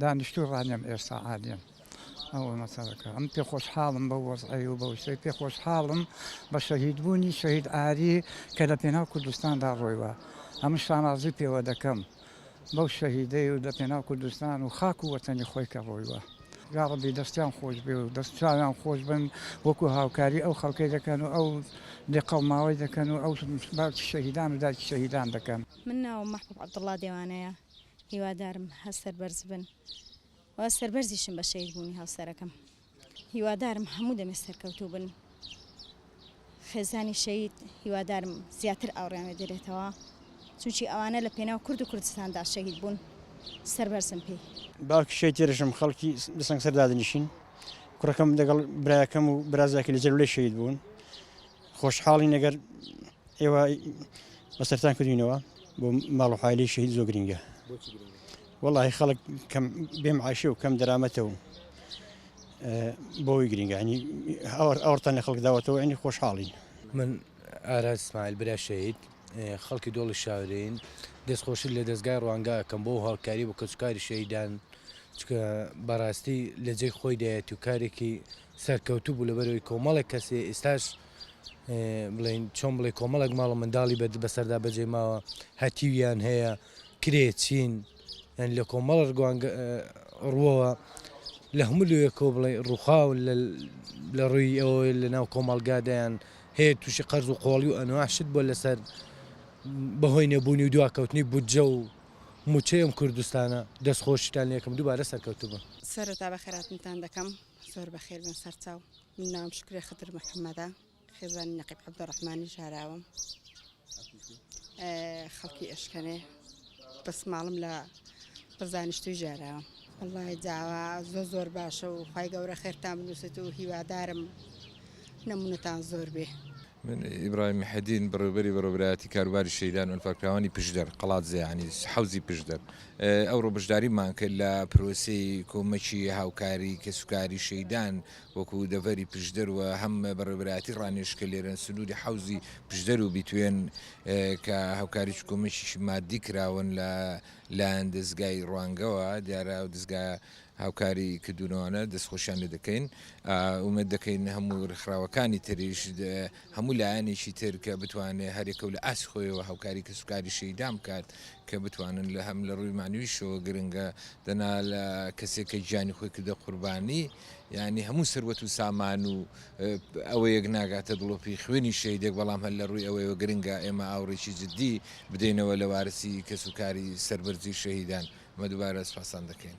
دانیشتووی ڕانیەم ئێستا عادیم ئەوە مەسەلەکە ئەم پێ خۆشحاڵم بە وەزعی و بەوشەی پێ خۆشحاڵم بە شەهیدبوونی شەهید ئاری کە لە پێناو کوردستاندا ڕۆیوە ئەمە شانازی پێوە دەکەم بەو شەهیدەی و لە پێناو کوردستان و خاک و وەتەنی خۆی کە ڕۆیوە یاڕبی دەستیان خۆش بێ و دەست چاویان خۆش بن وەکو هاوکاری ئەو خەڵکەی دەکەن و ئەو لێ قەڵماوەی دەکەن و ئەو باوکی شەهیدان و دایکی شەهیدان دەکەن من ناوم محبوب عبدالله دێوانەیە هیوادارم هە سەربەرز بن و سەربەرزیشم بە شەید بوونی هاوسەرەکەم هیوادارم هەموو دەمێ سەرکەوتوو بن خێزانی شەید هیوادارم زیاتر ئاوڕیانێ دەرێتەوە چونچی ئەوانە لە پێناو کورد و کوردستاندا شەید بوون سەربەرزم پێی باوکی شەید تێرشم خەڵکی دەسەنگ سەردادنیشین کوڕەکەم دەگەڵ برایەکەم و برازاکی لە جەلولەی شەید بوون خۆشحاڵی نەگەر ئێوە بەسەرتان کردینەوە بۆ ماڵ و حالی شەهید زۆ گرنگە وەڵی خەڵک کەم بێم عیشە و کەم دەرامەتە و بۆی گرنگانی ئەوڕتان لە خەڵک داوەتەوە ینی خۆشحاڵین من ئاراز سمایل برا شەهید خەڵکی دۆڵی شاورین دەستخۆشی لە دەستگای ڕوانگە ئەەکەم بۆ هەڵکاری بۆ کەسکاری شەیدان چکە بەڕاستی لە جێ خۆی دایەت و کارێکی سەرکەوتوو بوو لەبەرەوەی کۆمەڵێک کەسێ ئێستاش بڵێین چۆن بڵێ کۆمەڵک ماڵ و منداڵی بە بەسەردا بەجێ ماوە هەتیویان هەیە کرێ چین یان لە کۆمەڵ ڕگوانگ ڕووەوە لە هەموو لەوێکۆ بڵێ ڕووخاو لە ڕووی ئەوە لە ناو کۆمەڵگادایان هەیە تووشی قەرز و قۆڵی و ئەنواشت بۆ لەسەر بەهۆی نەبوونی و دواکەوتنی بودجە و موچەیەم کوردستانە دەستخۆشیتان لەکەم دووبارە سەرکەوتبوون سەرتا بە خێراتنتان دەکەم زۆر بەخێربن سەرچاو. من ناوم شوکرە خدر محەمەدە خێزانی نەقیب عەبدولڕەحمانی ژاراوەم خەڵکی ئێشکەنێ بەس ماڵم لە بەزانیشتوی ژاراوە وڵی داوا زۆر زۆر باشە و خی گەورە خێرتان بنووسێت و هیوادارم نمونەتان زۆر بێ. من ئیبراهیم حەدین بەڕێوبەری بەڕێوبەرایەتی کاروباری شەیدان ئەنفالکراوانی پشدەر قەڵات زیانی حوزی پشدەر ئەوڕۆ بەشداریمان کرد لە پرۆسی کۆمەکی هاوکاری کەسوکاری شەیدان وەکوو دەڤەری پشدەر و هەم بەڕێوەبەرایەتی ڕانێش کە لێرەن، سنووری حەوزی پشدەر و بیتوێن کە هاوکاری چکۆمێکیشی ماددی کراون لە لایەن دەزگای ڕوانگەوە، دیارە ئەو دەزگا هاوکاری کردوونەوانە، دەستخۆشیان لێ دەکەین. ئومێد دەکەین هەموو ڕێکخراوەکانی تریش، هەموو لایەنێکی تر کە بتوانێ هەر یەکە و لە ئاستی خۆیەوە هاوکاری کەسوکاری شەهیدان بکات کە بتوانن لە هەم لە ڕووی مەعنەویشەوە گرنگە، دەنا لە کەسێک کە گیانی خۆی کردە قوربانی، یانی هەموو سەروەت و سامان و ئەوەیەک ناگاتە دڵۆپی خوێنی شەیدێک بەڵام هەر لە ڕووی ئەوەیەوە گرنگە ئێمە ئاوڕێکی جددی بدەینەوە لە وارسی کەس و کاری سەربەرزی شەهیدان مە دووبارە سپاسان دەکەین.